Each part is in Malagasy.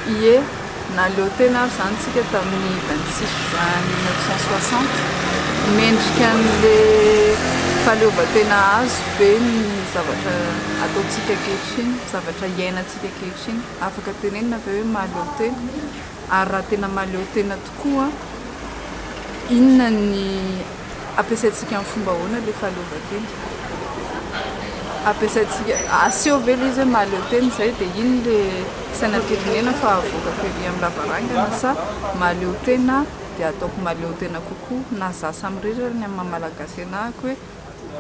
Ie, naleo tena ary izany isika tamin'ny 26 juin 1960. Mendrika an'ilay fahaleovantena azo ve ny zavatra ataontsika ankehitriny, zavatra iainantsika ankehitriny? afaka tenenina ve hoe mahaleo tena? Ary raha tena mahaleo tena tokoa, inona ny ampiasaintsika amin'ny fomba ahoana ilay fahaleovantena? Ampiasaintsika, aseho ve ilay izy hoe mahaleo tena izay dia iny ilay sainam-pirenena fa avoakako ery amin'ny lavarangana sa mahaleo tena dia ataoko mahaleo tena kokoa na izaho samirery ary ny amin'ny maha-malagasy anahako hoe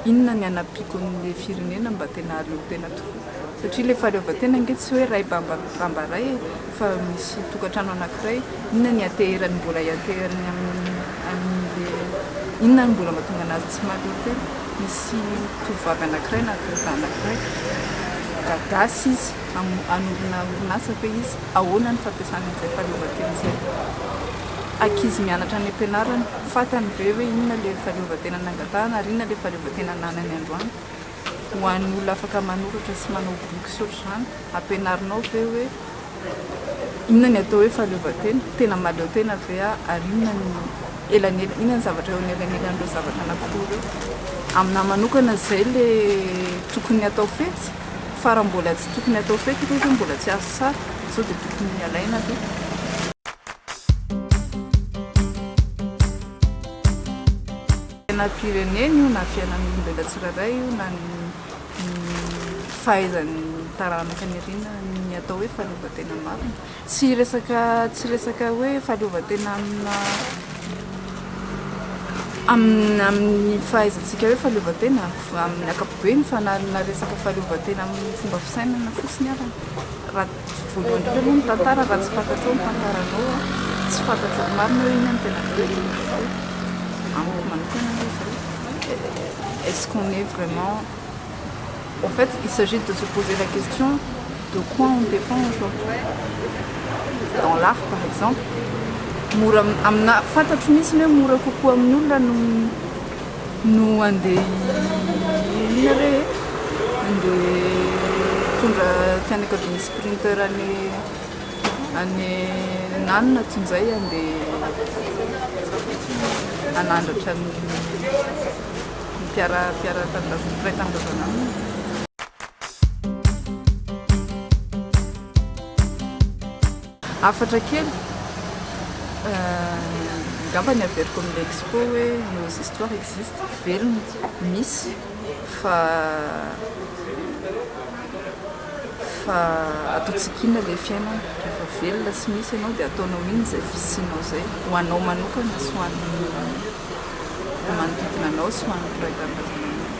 inona ny hanampiako ny le firenena mba tena haleo tena tokoa satria le fahaleovantena ange tsy hoe ray bamba bamba ray e fa misy tokantrano anakiray inona ny hateherany mbola hiateherany amin'ny anle inona ny mbola mahatonga anazy tsy mahaleo tena misy tovovavy anakiray na tovolahy anakiray gadasy izy hanorina orinasa ve izy ahoana ny fampiasana an'izay fahaleovantena izay ankizy mianatra any am-pianarana, fantany ve hoe inona ilay fahaleovantena nangatahana ary inona ilay fahaleovantena ananany androany? Ho an'ny olona afaka manoratra sy manao boky sy ohatr'izany, ampianarinao ve hoe inona ny atao hoe fahaleovantena? Tena mahaleo tena ve aho ary inona ny elanelany, inona ny zavatra eo anelanelan'ireo zavatra anankiroa ireo? Aminà manokana izay ilay tokony hatao fetsy fa raha mbola tsy tokony hatao fetsy ilay izy hoe mbola tsy azo tsara sao dia tokony alaina aloha. Fiainam-pirenena io na fiainan'ny olombelona tsirairay io na ny fahaizan'ny taranaka any aoriana ny atao hoe fahaleovantena marina. Tsy resaka tsy resaka hoe fahaleovantena amina amin'ny amin'ny fahaizantsika hoe fahaleovantena amin'ny ankapobeny fa na na resaka fahaleovantena amin'ny fomba fisainana fotsiny arany. Tsy voalohany koa aloha ny tantara raha tsy fantatrao ny tantaranao a, tsy fantatrao ny marina hoe inona no tena vérité fa amiko manokana aloha izao est ce qu'on est vraiment en fait il s'agit de se poser la question de quoi on dépend aujourd'hui dans l'art par exemple mora amina fantatro mihitsy ny hoe mora kokoa amin'ny olona no No andeha inona re e? Andeha hitondra fianakavian'ny sprinter any any Nanona toy izay handeha hanandratra ny mpiara mpiara tanindrazana mpiray tanindrazana aminy. Hafatra kely, angamba ny averiko amin'ilay expo hoe nos histoires existent, velona, misy, fa fa ataontsika inona ilay fiainana? Rehefa velona sy misy ianao dia ataonao inona izay fisianao izay? Ho anao manokana sy ho an'ny manodidina anao sy ho an'ny mpiray tanindrazanao manokana.